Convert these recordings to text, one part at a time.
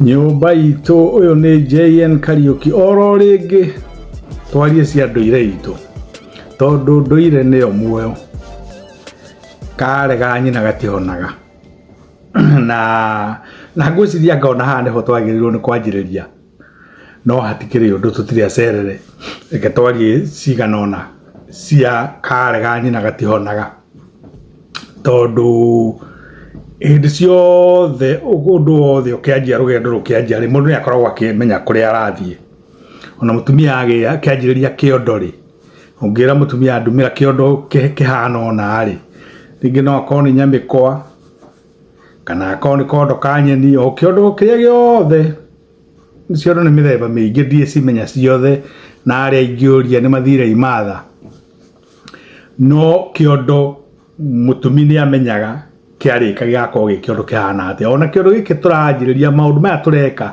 nyũmba itũ ũyũ nĩ jn kariũki oro rĩngĩ twarie cia ndũire itũ tondũ ndũire nĩyo muoyo karega nyina gatihonaga na na ngwĩciria ngona haha nĩho twagĩrĩirwo nĩ kwanjĩrĩria no hatikĩrĩ ũndũ tũtirĩ acerere reke twarie cigana ũna cia karĩ ga nyina gatihonaga tondũ hĩndĩ ciothe ũndũ wothe ũkĩanjia rũgendo rũkĩanjia rĩ mũndũ nĩ akoragwo akĩmenya kũrĩa arathiĩ ona mũtumia agĩa kĩanjĩrĩria kĩondo rĩ ũngĩra mũtumia ndumĩra kĩondo kĩhana ũna rĩ rĩngĩ no akorwo nĩ nyamĩkwa kana akorwo nĩ kondo ka nyeni o kĩondo kĩrĩa gĩothe ciondo nĩ mĩthemba mĩingĩ ndiĩ cimenya ciothe na arĩa ingĩũria nĩ mathire imatha no kĩondo mũtumi nĩ amenyaga kĩarĩka gĩgakorwo gĩ kĩondo kĩhana atĩa ona kĩondo gĩkĩ tũranjĩrĩria maũndũ maya tũreka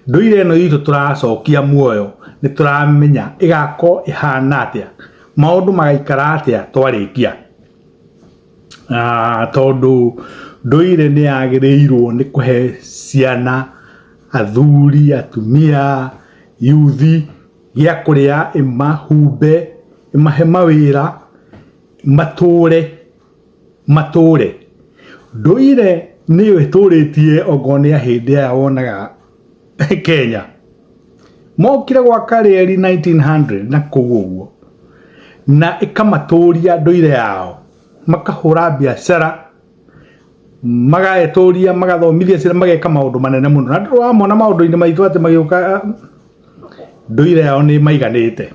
ndũire ĩno itũ tũracokia muoyo nĩ tũramenya ĩgakorwo ĩhana atĩa maũndũ magaikara atĩa twarĩkia tondũ ndũire nĩ yagĩrĩirwo nĩ kũhe ciana, athuri, atumia, yuthi gĩa kũrĩa, ĩmahumbe, ĩmahe mawĩra, matũre, matũre. Ndũire nĩyo ĩtũrĩtie okorwo nĩ ya hĩndĩ ĩyo wonaga. kenya mokire gwaka reri 1900 na kũu ũguo na ĩkamatũria ndũire yao makahũra biacara magaetũria magathomithia ciana mageka maũndũ manene mũno na ndũrwa mona maũndũ-inĩ maitũ atĩ magĩũka ndũire yao nĩ maiganĩte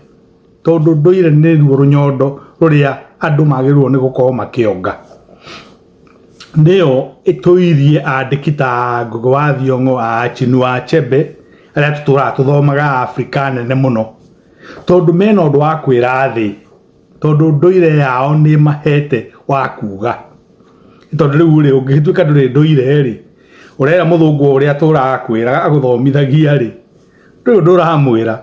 tondũ ndũire nĩ ruo rũnyondo rũrĩa andũ magĩrĩirwo nĩ gũkorwo makĩonga nĩyo ĩtũirie andĩki ta Ngũgĩ wa Thiong'o, Achinua Achebe arĩa tũtũraga tũthomaga a Afrika nene mũno, tondũ mena ũndũ wa kwĩra thĩ, tondũ ndũire yao nĩ ĩmahete wa kuga, tondũ rĩu rĩ ũngĩgĩtuĩka ndũrĩ ndũire rĩ, ũrera mũthũngũ ũrĩa atũraga akwĩraga agũthomithagia rĩ, ndũrĩ ũndũ ũramwĩra,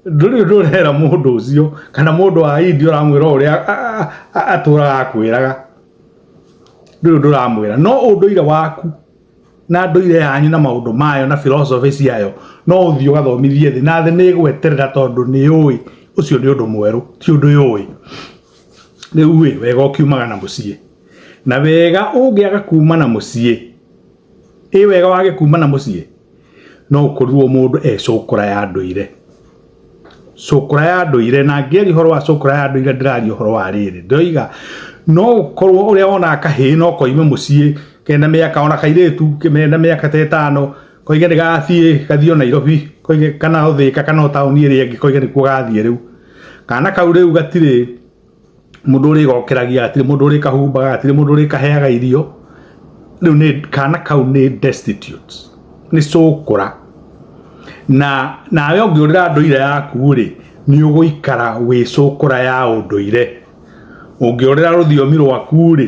ndũrĩ ndũrera mũndũ ũcio kana mũndũ wa indi ũramwĩra ũrĩa atũraga akwĩraga ndũrĩ ndũramwĩra no ũndũire waku na ndũire yanyu na maũndũ mayo na philosophy ciayo no ũthiĩ ũgathomithie thĩ na thĩ nĩ ĩgweterera tondũ nĩ yũĩ ũcio nĩ ũndũ mwerũ ti ũndũ yũĩ rĩu ĩ wega ũkiumagana mũciĩ na wega ũngĩaga kumana mũciĩ ĩ wega wage kuma na mũciĩ no ũkorirwo mũndũ e cũkũra ya ndũire cũkũra ya ndũire na ngĩaria ũhoro wa cũkũra ya ndũire ndĩraria ũhoro wa rĩrĩ ndoiga no ũkorwo ũrĩa wonaga kahĩĩ no koime mũciĩ kena mĩaka ona kairĩtu kena mĩaka ta ĩtano koige nĩ gathiĩ gathiĩ o Nairobi koige kana o Thĩka kana o taũni ĩrĩa ĩngĩ koige nĩkuo gathiĩ rĩu kana kau rĩu gatirĩ mũndũ ũrĩ gokeragia atire mũndũ ũrĩ kahumbaga atire mũndũ ũrĩ kaheaga irio rĩu nĩ kana kau nĩ destitute nĩ cũkũra na nawe ũngĩũrĩra ndũire yaku rĩ nĩ ũgũikara wĩ cũkũra ya ũndũire ũngĩũrĩra rũthiomi rwaku rĩ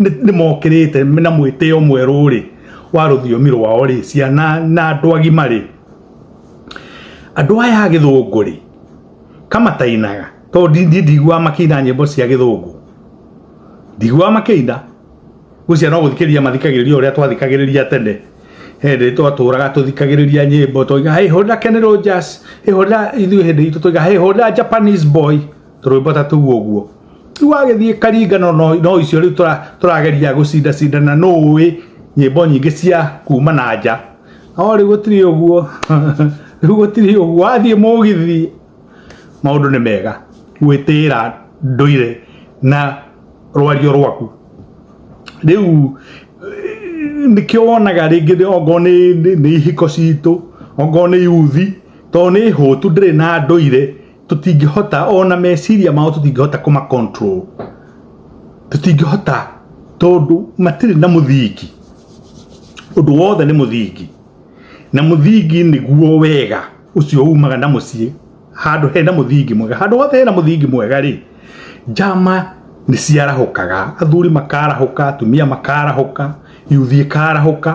nĩ mokĩrĩte na mwĩtĩo mwerũ rĩ wa rũthiomi rwao rĩ ciana na andũ agima rĩ andũ aya a gĩthũngũ rĩ kamatainaga tondũ ndi- ndi- ndiguaga makĩina nyĩmbo cia gĩthũngũ ndiguaga makĩina gũcia no gũthikĩrĩria mathikagĩrĩria ũrĩa twathikagĩrĩria tene hĩndĩ twatũraga tũthikagĩrĩria nyĩmbo tũiga hey hũrĩra kenero jazz hey hũrĩra ithuĩ hĩndĩ itũ tũiga hey hũrĩra japanese boy tũrwĩmbota tũu ũguo rĩu wagĩthiĩ karingano no no icio rĩu tũra- tũrageria gũcindacindana nũ ũĩ nyĩmbo nyingĩ cia kuma na nja no rĩu gũtirĩ ũguo rĩu gũtirĩ ũguo wathiĩ mũgithi maũndũ nĩ mega gwĩtĩĩra ndũire na rwario rwaku rĩu nĩkĩo wonaga rĩngĩ nĩ- ongorwo nĩ nĩ- nĩ ihiko citũ ongorwo nĩ yuthi tondũ nĩ hũtu ndĩrĩ na ndũire tũtingĩhota ona meciria mao tũtingĩhota kũma control tũtingĩhota tondũ matirĩ na mũthingi ũndũ wothe nĩ mũthingi na mũthingi nĩguo wega ũcio umaga na mũciĩ handũ hena mũthingi mwega handũ hothe hena mũthingi mwega rĩ njama nĩ ciarahũkaga athuri makarahũka atumia makarahũka yuthi ĩkarahũka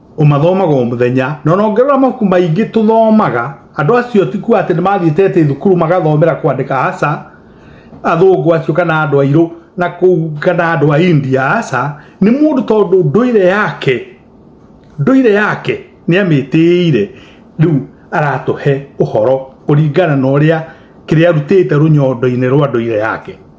ũmathomaga o mũthenya na ona ũngĩrora mabuku maingĩ tũthomaga andũ acio ti kuga atĩ nĩ mathiĩte atĩ thukuru magathomera kwandĩka aca athũngũ acio kana andũ airũ na kũu kana andũ a india aca nĩ mũndũ tondũ ndũire yake ndũire yake nĩ amĩtĩĩire rĩu aratũhe ũhoro kũringana na ũrĩa kĩrĩa arutĩte rũnyondo-inĩ rwa ndũire yake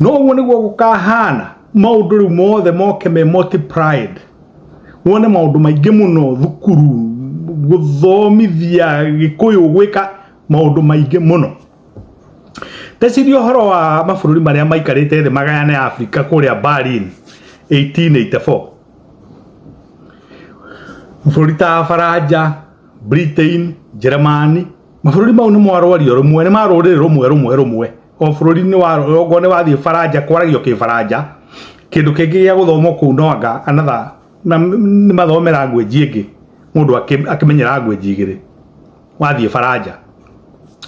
no guo niguo gukahana maundu riu mothe moke me multiplied wone maundu maingi muno thukuru guthomithia gikuyu gwika maundu maingi muno teciria uhoro wa mabururi maria maikarite thi magayane Afrika kuria Berlin 1884 bururi ta Faranja Britain Germany mabururi mau ni mwarwario rumwe ni maruriri rumwe rumwe rumwe o bũrũri-inĩ wa rũgongo nĩ wathiĩ baranja kwaragio kĩbaranja kĩndũ kĩngĩ gĩa gũthomwo kũu no anga another na m- nĩ mathome language ĩngĩ mũndũ akĩ- akĩmenye language igĩrĩ wathiĩ baranja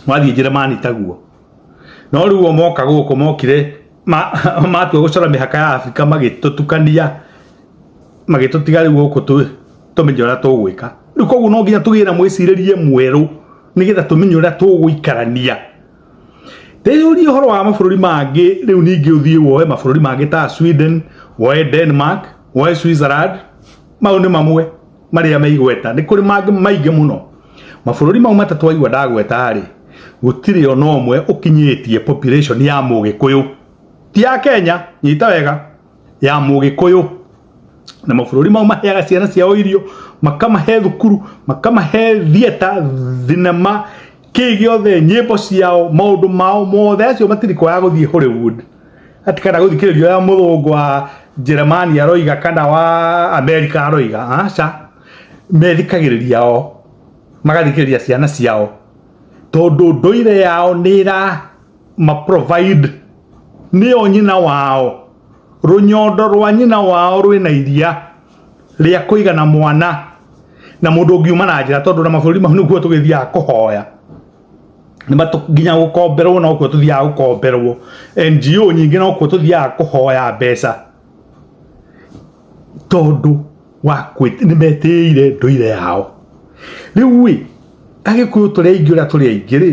wathiĩ njeremani taguo no rĩu o moka gũkũ mokire ma- matua gũcora mĩhaka ya abirika magĩtũtukania magĩtũtiga rĩu gũkũ tũ- tũmenye ũrĩa tũgwĩka rĩu koguo no nginya tũgĩe na mwĩcirĩrie mwerũ nĩgetha tũmenye ũrĩa tũgũikarania teyũrie ũhoro wa mabũrũri mangĩ rĩu ningĩ ũthiĩ woe mabũrũri mangĩ ta sweden woe denmark woe switzerland mau nĩ mamwe marĩa meigweta nĩ kũrĩ mangĩ maingĩ mũno mabũrũri mau matatũ waigua ndagweta rĩ gũtirĩ ona ũmwe ũkinyĩtie population ya mũgĩkũyũ ti ya kenya nyita wega ya mũgĩkũyũ na mabũrũri mau maheaga ciana ciao irio makamahe thukuru makamahe thieta thinema kĩĩ gĩothe nyĩmbo ciao maũndũ mao mothe acio matirikoya gũthiĩ hollywood ati kana gũthikĩrĩrio ya mũthũngũ wa jeremani aroiga kana wa amerika aroiga aca methikagĩrĩria o magathikĩrĩria ciana ciao tondũ ndũire yao nĩ ĩra ma provide nĩyo nyina wao rũnyondo rwa nyina wao rwĩ na iria rĩa kũigana mwana na mũndũ ũngiuma na njĩra tondũ na mabũrũri mau nĩkuo tũgĩthiaga kũhoya nĩ matũ- nginya gũkomberwo nokuo tũthiaga gũkomberwo ngo nyingĩ nokuo tũthiaga kũhoya mbeca tondũ wa kwĩ- nĩ metĩĩire ndũire yao rĩu ĩ agĩkũyũ tũrĩ aingĩ ũrĩa tũrĩ aingĩ rĩ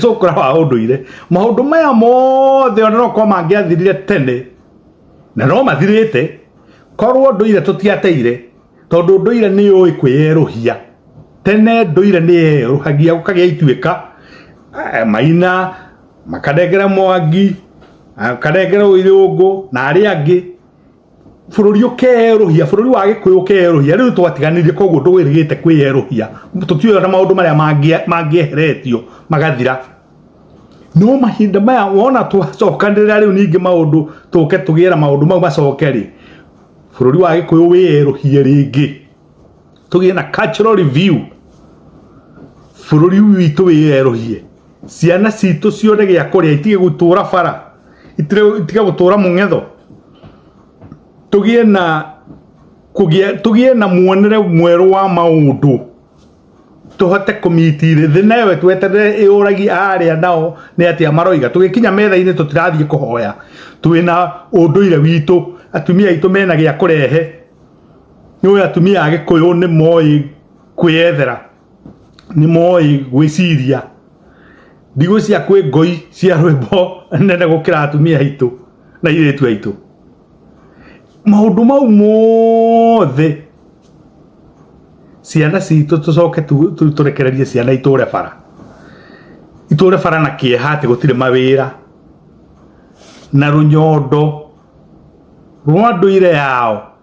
cũkũra wa ũndũire maũndũ maya mothe ona no korwo mangĩathirire tene na no mathirĩte korwo ndũire tũtiateire tondũ ndũire nĩ ũĩ kwĩyerũhia tene ndũire nĩ yerũhagia gũkagĩa ituĩka eh, maina makanengera mwangi makanengera ũirũngũ na arĩa angĩ bũrũri ũkerũhia bũrũri wa gĩkũyũ ũkerũhia rĩu twatiganirie koguo ndũgĩrĩgĩte kwĩyerũhia tũtiũĩ na maũndũ marĩa mangĩeheretio magathira no mahinda maya wona twacokanĩrĩra rĩu ningĩ maũndũ tũke tũgĩe na maũndũ mau macoke rĩ bũrũri wa gĩkũyũ wĩyerũhie rĩngĩ tũgĩe na cultural review bũrũri witũ wĩyerũhie ciana citũ cione gĩa kũrĩa itige gũtũra bara itige gũtũra mũng'etho tũgĩe na kũgĩa tũgĩe na muonere mwerũ wa maũndũ tũhote kũmitire thĩ nayo tweterere ĩũragi arĩa nao nĩ atĩa maroiga tũgĩkinya metha-inĩ tũtirathiĩ kũhoya twĩna ũndũire witũ atumia aitũ mena gĩa kũrehe nĩũĩ atumia a gĩkũyũ nĩ moĩ kwĩyethera nĩ moĩ gwĩciria ndigũ cia kwĩ ngoi cia rwĩmbo nene gũkĩra atumia aitũ na irĩtu aitũ maũndũ mau mothe ciana citũ tũcoke tũrekererie ciana itũre bara itũre bara na kĩeha atĩ gũtirĩ mawĩra na rũnyondo rwa ndũire yao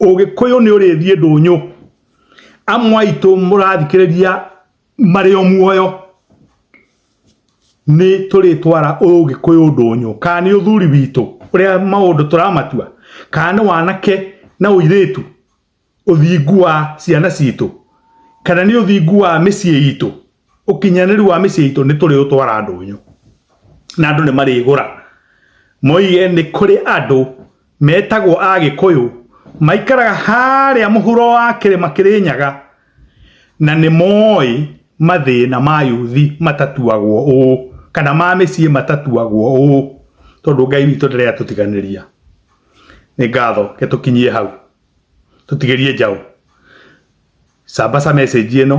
Ũgĩkũyũ nĩ ũrĩthiĩ ndũnyũ. Amwe aitũ mũrathikĩrĩria marĩ o muoyo nĩ tũrĩtwara ũgĩkũyũ ndũnyũ, kana nĩ ũthuri witũ ũrĩa maũndũ tũramatua, kana nĩ wanake na ũirĩtu, ũthingu wa ciana citũ, kana nĩ ũthingu wa mĩciĩ itũ. ukinyanĩru wa mĩciĩ itũ nĩ tũrĩ ũtwara ndũnyũ na andũ nĩ marĩgũra moige nĩ kũrĩ andũ metagwo a gĩkũyũ maikaraga harĩa mũhuro wa kĩrĩma kĩrĩ nyaga na nĩ moĩ mathĩna ma yuthi matatuagwo ũũ kana ma mĩciĩ matatuagwo ũũ tondũ ngai witũ ndĩrĩa tũtiganĩria nĩ ngatho ke tũkinyie hau tũtigĩrie njaũ sambaca message ĩno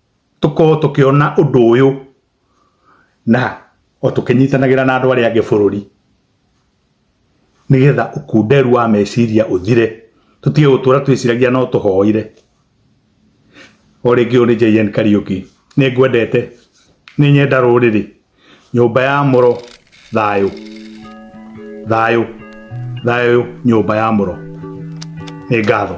tũkorwo tũkĩona ũndũ ũyũ na o tũkĩnyitanagĩra na andũ arĩa angĩ bũrũri nĩgetha ũkunderu wa meciria ũthire tũtige gũtũra twĩciragia no tũhoire o rĩngĩ ũyũ nĩ JN Kariuki nĩ ngwendete nĩ nyenda rũrĩrĩ nyũmba ya mũro thayũ thayũ thayũ nyũmba ya mũro nĩ ngatho